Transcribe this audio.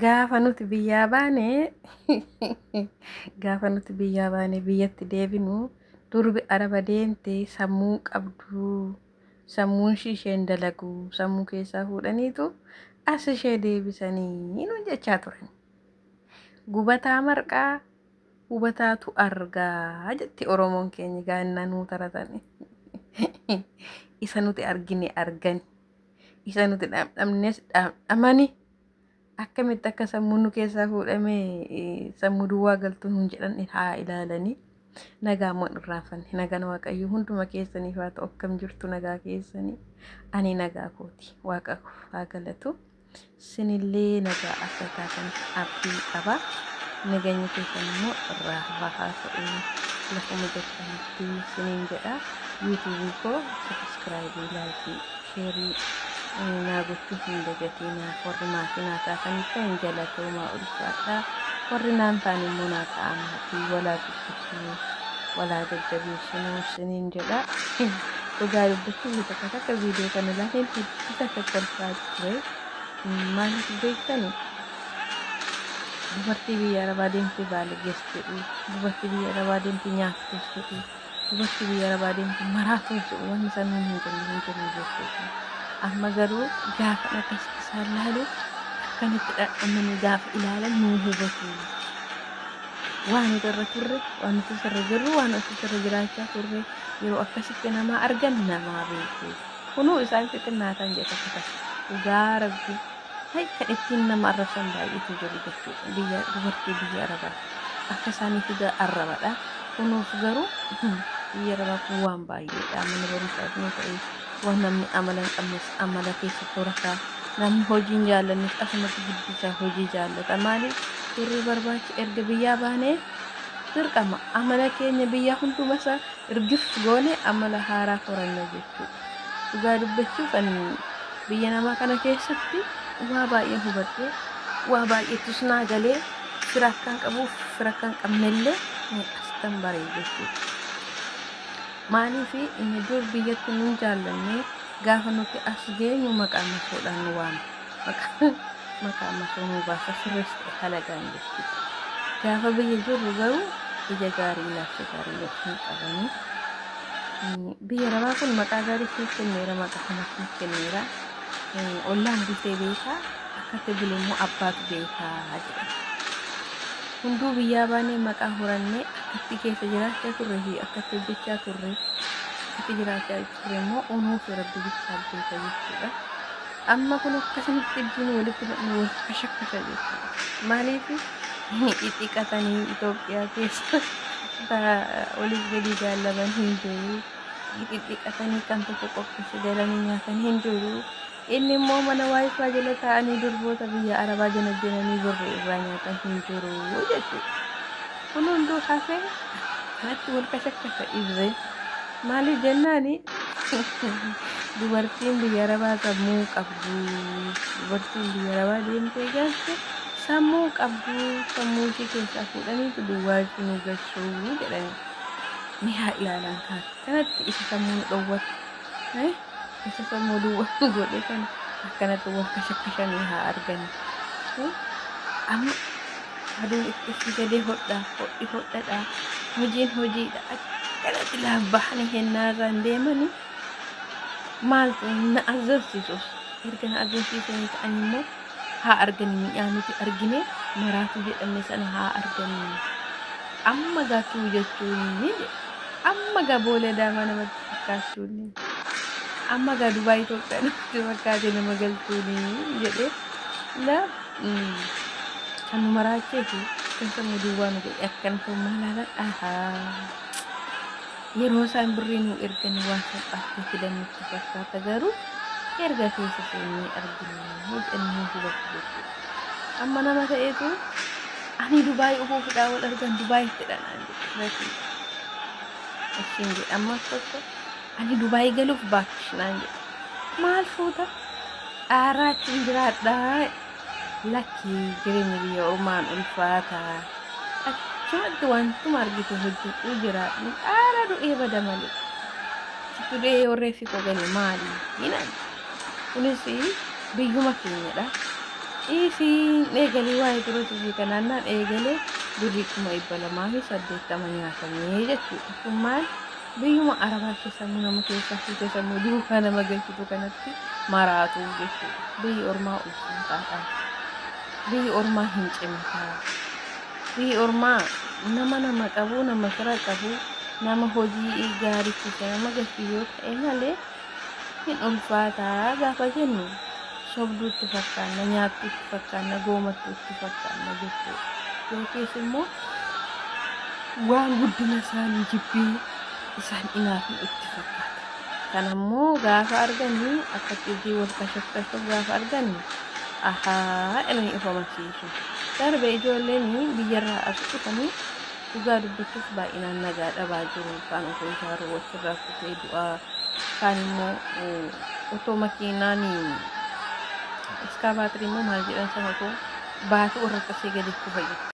Gaafa nuti biyyaa baane gaafa nuti biyyaa baane biyyatti deebinu durbi araba deemte sammuu hin qabdu sammuun ishii isheen dalagu sammuu keessaa fuudhaniitu as ishee deebisanii nuun jechaa turan. Gubataa marqaa hubataatu argaa jetti Oromoon keenya gaannaa nuu taratani. Isa nuti argine argani. isa nuti dhaamdhamnes dhaamdhamani akkamitti akka sammuu nu keessaa fuudhame sammuu duwwaa galtuu nuun jedhan haa ilaalanii nagaa moon irraanfanne nagaan waaqayyo hunduma keessaniif haa ta'u akkam jirtu nagaa keessanii ani nagaa kooti waaqa haa galatu Isinillee nagaa akka taatan abdii qaba. Naganyi keessan immoo irraa fufaa haa ta'u. Lafuma jirtanitti isiniin jedha. Yuutuubii koo sabiskiraayibii, laayikii, sheerii naa gochuu hin dagatiinaa. Warri maatii naa taataniif kan galatoomaa ulfaadhaa. Warri naan taane immoo naa ta'aa maatii walaa guddifnaa. nuuf walaa jajjabeessinuu isiniin jedha. Dhugaa dubbachuuf takka takka viidiyoo kana ilaaleen hedduu takka kolfaa ture. Maaliif beektani? Dubartii biyya arabaa deemtee baalagees jedhu, dubartii biyya arabaa deemtee nyaattees jedhu, dubartii biyya arabaa deemtee maraatuu jedhu wanni isaan nuun hin jenne hin jiru jechuudha. Amma garuu gaafa akkasitti isaan laalu akkamitti dhadhamanii gaafa ilaalan nuu hubatu. Waan nuti irra turre, waan nuti irra jirru, waan nuti irra jiraachaa turre yeroo akkasitti namaa argan namaa beeku. Kunuu isaan xixinnaataan jedhe tokko tokko. Dhugaa rabbi hay kan ittiin nama arrabsan baay'eetu jiru jechuudha. Biyya dubartii biyya arabaa akka isaaniitu ga- arrabadha. Kunuuf garuu biyya arabaa kun waan baay'eedha. Mana barumsaa ta'ee Waan namni amala hin qabnes amala keessa horata. Namni hojii hin jaallannes asumatti gidduu isaa hojii jaallata. Maaliif turrii barbaacha erga biyyaa baanee dirqama amala keenya biyya hunduma isaa irgif goone amala haaraa horanna jechuudha. Dhugaa dubbachuuf ani biyya namaa kana keessatti waa baay'ee hubadhe waa baay'eetus naa galee fira akkan qabuuf fira akkan qabnellee asitan baree jechuudha. Maaliif inni dur biyyatti nun jaallanne gaafa nuti as geenyu maqaa masoodhaan nu waama. Maqaa maqaa masoo nu baasa sirrees ta'e halagaan jechuudha. Gaafa biyya jirru garuu ija gaarii ilaalcha gaarii nu hin qabani. Mm, Biyya arabaa kun maqaa gaarii siif kenneera maqaa kana siif kenneera. Mm, Ollaan bultee beekaa akkatti bulu immoo abbaatu beekaa jedha. Hunduu biyyaa baanee maqaa horannee akkattii keessa jiraachaa turre fi akkatti hojjechaa turre akkatti jiraachaa turre immoo unuu fi rabbi bichaaf beeka jechuudha. Amma kun akkasumatti idduun walitti dhufne wal fashakkasa jechuudha. Maaliif xixiqqatanii Itoophiyaa keessa oliif gadi jaallaban hin jiru. Xixiqqatanii kan tokko qopheesse galanii nyaatan hin jiru. Inni immoo mana waayifaa jala taa'anii durboota biyya arabaa janajjananii birri irraa nyaatan hin jiru jechuudha. Kun hunduu hafee natti wal kashakkasa ibsee. Maaliif jennaani dubartiin biyya arabaa sammuu qabdu. Dubartiin biyya arabaa deemtee jaatte sammuu qabdu. Sammuu ishii keessaa fuudhaniitu duwwaa itti nu gashuu jedhanii. Ni haa ilaalan kaa kanatti isa sammuu nu dhowwatu. Isa sammuu duwwaa godhe kana akkanatti wal kashakkashanii haa argani. Amma aduun itti itti gadee hodhaa hodhi hodhadha hojiin hojiidha akkanatti laaf bahanii hennaarraan deemanii maal na azzansiisus erga na azzansiisaniis ani immoo haa argani miidhaa nuti argine maraatu jedhamne sana haa argani amma gaa tuu jechuu inni amma gaa boolee daamaa namatti fakkaachuu inni amma gaa dubaa Itoophiyaa namatti fakkaate nama galchuu inni jedhee la kan nu maraachee fi kan sammuu duwwaa nu godhe akkan ta'u maalaaladha Yeroo isaan birrii nuu erganii waan salphaatti nu fidan nutti fakkaata garuu erga keessa seennee arginee jennee hubatu jechuudha. Amma nama ta'etu ani Dubaay ofuufidhaa wal argan Dubaay fedha naan jedhe gatii ittiin jedhe ammas tokko ani Dubaay galuuf baakkish naan jedhe maal fuuta dhaaraachuun jiraadhaa Lakkii jireenyi biyya ormaan ulfaata achumatti wantuma argite hojjedhuu jiraadhu dhaala du'ee bada malee achitti du'ee yoo reeffi koo gale maali hinan kunis biyyuma keenyadha ciisiin eegalee waa'ee dura jirbii kanaannaan eegalee birrii kuma dhibba lamaa fi saddeettama nyaatamee jechuudha kun maal Biyyuma Arabaa keessa immoo nama keessa fuutee sammuu duukaa nama galchitu kanatti maraatu jechuudha. Biyyi ormaa ulfaataadha. Biyyi ormaa hin cimtaa. Biyyi ormaa nama nama qabu, nama fira qabu, nama hojii gaariitti isa nama galchu yoo ta'e malee Hin ulfaataa gaafa jennu sobduu itti fakkaanna, nyaattuu itti fakkaanna, goomattuu itti fakkaanna jechuudha. Yookiis immoo waan guddina isaanii jibbiin isaan inaafnu itti fakkaata. Kan ammoo gaafa arganii akka cidii wal kashafkashuuf gaafa arganii ahaa jedhanii of amansiisu. Darbe ijoolleen biyyarraa as dhufanii Dhugaa dubbachuuf baay'inaan nagaa dhabaa jiru. Kaan osoo ijaaruu achirraa kufee du'aa, kaan immoo eh, otoo makiinaan iskaabaatirii immoo maal jedhan sana otoo baatuu irra cabsee gadi kufa jira.